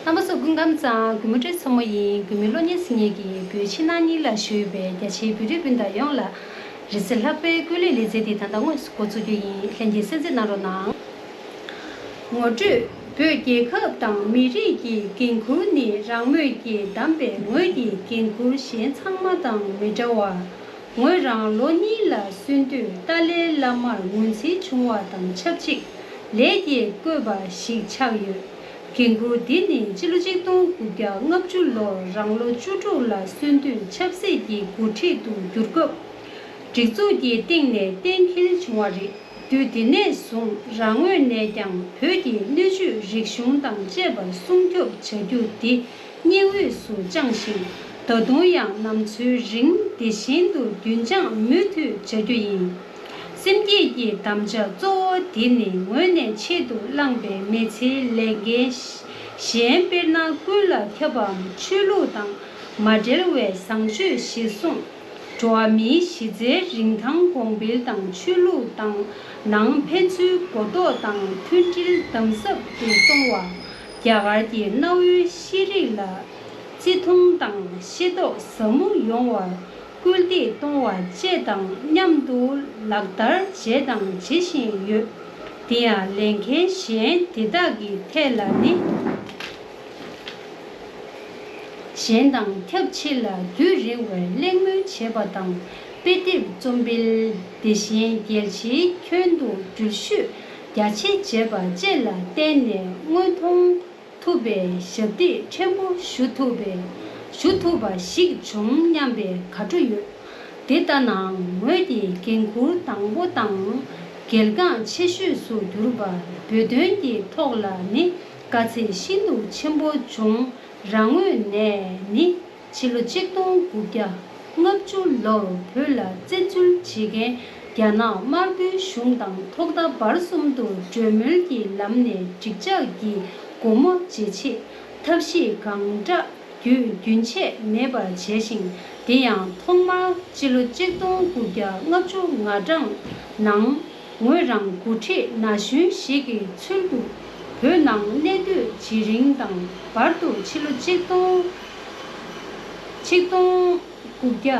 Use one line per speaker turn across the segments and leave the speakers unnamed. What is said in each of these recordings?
རྣམ་པ་སོགས་ཀུན་ཁམས་གཙང་གུས་མོ་ཏྲའི་མཚོ་མོ་ཡིན་གུས་མོའི་བློ་སྙན་སེང་ངེ་གྱིས་བུ་ཕྱི་ནང་གཉིས་ལ་ཞུས་པའི་རྒྱ་ཆེའི་བོད་རིགས་སྤུན་ཟླ་ཡོངས་ལ། རི་སེར་ལྷག་པའི་སྐུ་ལས་ལས་མཛད་དེ་ད་ལྟ་དངོས་སུ་འགོ་བཙུགས་རྒྱུ་ཡིན་ལྷན་རྒྱས་གསན་གཟིགས་གནང་རོགས་གནང། ངོ་སྤྲོད། བོད་རྒྱལ་ཁབ་དང་མི་རིགས་ཀྱི་འགན་ཁུར་ནི་རང་མོས་ཀྱིས་བདམས་པའི་ངོས་ཀྱི་འགན་ཁུར་གཞན་ཚང་མ་དང་མི་འདྲ་བར། ངོས་རང་ལོ་གཉིས་ལ་སོན་དུས་ཏཱ་ལའི་བླ་མར་ངོས་འཛིན་བྱུང་བ་དང་ཆབས་ཅིག་ལེགས་སྐྱེས་བཀོད་པ་ཞིག་ཆགས་ཡོད། འགན་ཁུར་འདི་ནི་སྤྱི་ལོ་ཆིག་སྟོང་དགུ་བརྒྱ་ལྔ་བཅུ་ལོར་རང་ལོ་བཅུ་དྲུག་ལ་སོན་དུས་ཆབ་སྲིད་ཀྱི་འགོ་ཁྲིད་དུ་གྱུར་སྐབས། སྒྲིག་འཛུགས་ཀྱི་སྟེང་ནས་གཏན་འཁེལ་བྱུང་བ་རེད། དུས་དེ་ནས་བཟུང་རང་ངོས་ནས་ཀྱང་བོད་ཀྱི་སྣོད་བཅུད་རིག་གཞུང་དང་བཅས་པ་སྲུང་སྐྱོབ་བྱ་རྒྱུ་འདི་སྙིང་དབུས་སུ་བཅངས་ཤིང་ད་དུང་ཡང་ནམ་འཚོའི་རིང་དེ་བཞིན་དུ་རྒྱུན་བཅངས་མུ་མཐུད་བྱ་རྒྱུ་ཡིན། སེམས་བསྐྱེད་ཀྱི་དམ་བཅའ་གཙོ་བོ་དེ་ནི་ངོས་ནས་ཆེད་དུ་བླངས་པའི་མི་ཚེའི་ལས་འགན། གཞན་དཔེར་ན་ཀུན་ལ་ཁྱབ་པའམ་ཆོས་ལུགས་དང་མ་འབྲེལ་བའི་བཟང་སྤྱོད་གཞིར་བཟུང། འགྲོ་བ་མིའི་གཞི་རྩའི་རིན་ཐང་གོང་འཕེལ་དང་ཆོས་ལུགས་དང་ནང་ཕན་ཚུན་གོ་རྟོགས་དང་མཐུན་སྒྲིལ་དམ་ཟབ་ཏུ་གཏོང་བ། རྒྱ་གར་གྱི་གནའ་བོའི་ཤེས་རིག་ལ་བརྩི་མཐོང་དང་ཤེས་རྟོགས་ཟབ་མོ་ཡོང་བར་སྐུལ་འདེད་གཏོང་བ་བཅས་དང་མཉམ་དུ་ལག་བསྟར་བྱས་དང་བྱེད་བཞིན་ཡོད། དེ་ཡང་ལས་འགན་གཞན་དེ་དག་གི་ཐད་ལ་ནི། གཞན་དང་ཁྱབ་ཆེ་ལ་དུས་རིང་བའི་གླེང་མོལ་བྱེད་པ་དང་དཔེ་དེབ་རྩོམ་སྤེལ་དེ་བཞིན་རྒྱལ་སྤྱིའི་ཁྱོན་དུ་འགྲུལ་བཞུད་རྒྱ་ཆེ་བྱེད་པ་བཅས་ལ་བརྟེན་ནས་དངོས་མཐོང་ཐུབ་པའི་ཞབས་འདེགས་ཕྲན་བུ་ཞུ་ཐུབ་པའི་ཞུ་ཐུབ་པ་ཞིག་བྱུང་སྙམ་པའི་དགའ་སྤྲོ་ཡོད། དེ་ལྟ་ནའང་ངོས་ཀྱི་འགན་ཁུར་དང་པོ་དང་གལ་འགངས་ཆེ་ཤོས་སུ་གྱུར་པ་བོད་དོན་གྱི་ཐོག་ལ་ནི་དཀའ་ཚེགས་ཤིན་ཏུ་ཆེན་པོ་བྱུང་རང་ངོས་ནས་ནི། ཕྱི་ལོ་གཅིག་སྟོང་དགུ་བརྒྱ་ལྔ་བཅུ་ལོར་བོད་ལ་བཙན་འཛུལ་བྱེད་མཁན་རྒྱ་ནག་དམར་པོའི་གཞུང་དང་ཐོག་མཐའ་བར་གསུམ་དུ་གྲོས་མོལ་གྱི་ལམ་ནས་འགྲིག་འཇགས་ཀྱི་སྒོ་མོ་འབྱེད་ཆེད་ཐབས་ཤེས་གང་འདྲ་བརྒྱུད་རྒྱུན་ཆད་མེད་པར་བྱས་ཤིང་དེ་ཡང་ཐོག་མར་ཕྱི་ལོ་གཅིག་སྟོང་དགུ་བརྒྱ་ལྔ་བཅུ་ང་གྲངས་ནང་ངོས་རང་མགོ་ཁྲིད་ན་གཞོན་ཞིག་གི་ཚུལ་དུ་བོད་ནང་གནས་སྡོད་བྱེད་རིང་དང་བར་དུ་ཕྱི་ལོ་གཅིག་སྟོང་གཅིག་སྟོང་དགུ་བརྒྱ་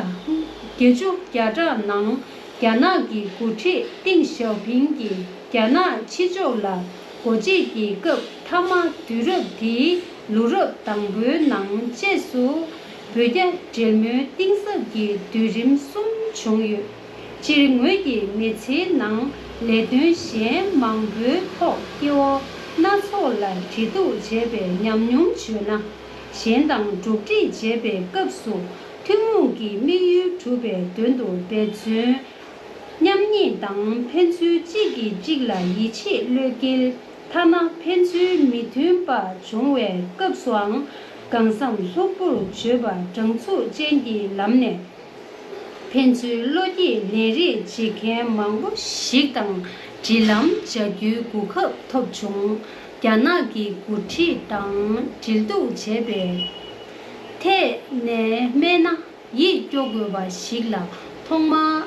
བརྒྱད་ཅུ་བརྒྱ་ཕྲག་ནང་རྒྱ་ནག་གི་མགོ་ཁྲིད་ཏིང་ཞའོ་ཕིང་གིས་རྒྱ་ནག་ཕྱི་ཕྱོགས་ལ་སྒོ་འབྱེད་ཀྱི་སྐབས་མཐའ་མ་དུས་རབས་དེའི་ལོ་རབས་དང་པོའི་ནང་བཅས་སུ་བོད་རྒྱ་འབྲེལ་མོལ་གཏིང་ཟབ་ཀྱི་དུས་རིམ་གསུམ་བྱུང་ཡོད། སྤྱིར་ངོས་ཀྱི་མི་ཚེའི་ནང་ལས་དོན་གཞན་མང་པོའི་ཐོག་སྐྱེ་བོ་སྣ་ཚོགས་ལ་འབྲེལ་གཏུགས་བྱས་པའི་ཉམས་མྱོང་བརྗོད་ན། གཞན་དང་འགྲོགས་འདྲིས་བྱེད་པའི་སྐབས་སུ་ཐུན་མོང་གི་དམིགས་ཡུལ་གྲུབ་པའི་དོན་དུ་འབད་བརྩོན། མཉམ་ཉིད་དང་ཕན་ཚུན་གཅིག་གིས་གཅིག་ལ་ཡིད་ཆེས་བློས་འགེལ་ཐ་ན་ཕན་ཚུན་མི་མཐུན་པ་བྱུང་བའི་སྐབས་སུའང་གང་བསམ་ལྷུག་པོར་བརྗོད་པ་དྲང་ཚུགས་ཅན་གྱི་ལམ་ནས། ཕན་ཚུན་བློ་སྐྱེད་ལས་རེས་བྱེད་མཁན་མང་པོ་ཞིག་དང་འབྲེལ་ལམ་བྱ་རྒྱུའི་གོ་སྐབས་ཐོབ་བྱུང། རྒྱ་ནག་གི་འགོ་ཁྲིད་དང་འབྲེལ་གཏུག་བྱས་པའི་ཐད་ནས་སྨྲས་ན་ཡིད་སྐྱོ་དགོས་པ་ཞིག་ལ་ཐོག་མར་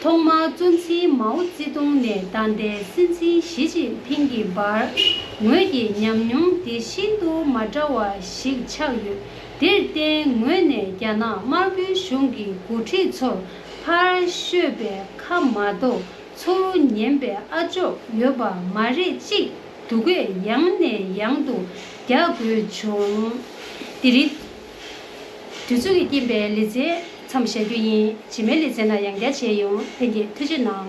ཐོག་མར་གཙོ་འཛིན་མའོ་ཙེ་ཏུང་ནས་ད་ལྟའི་སྲིད་འཛིན་ཞི་ཅིན་ཕིང་གི་བར་ངོས་ཀྱི་ཉམས་མྱོང་དེ་ཤིན་ཏུ་མ་འདྲ་བ་ཞིག་ཆགས་ཡོད། དེར་བརྟེན་ངོས་ནས་རྒྱ་ནག་དམར་པོའི་གཞུང་གི་འགོ་ཁྲིད་ཚོར་ཕར་ཤོད་པའི་ཁ་མ་གཏོགས་ཚུར་ཉན་པའི་ཨ་ཅོག་ཡོད་པ་མ་རེད་ཅིག་སྡུག་སྐད་ཡང་ནས་ཡང་དུ་རྒྱག་དགོས་བྱུང། འདི་རིགས། དུས་ཚོད་ཀྱི་རྐྱེན་པས་ལེ་ཚན་མཚམས་བཞག་རྒྱུ་ཡིན། རྗེས་མའི་ལེ་ཚན་ལ་ཡང་བསྐྱར་མཇལ་ཡོང་ཐན་སྐད་ཐུགས་ཆེ་གནང།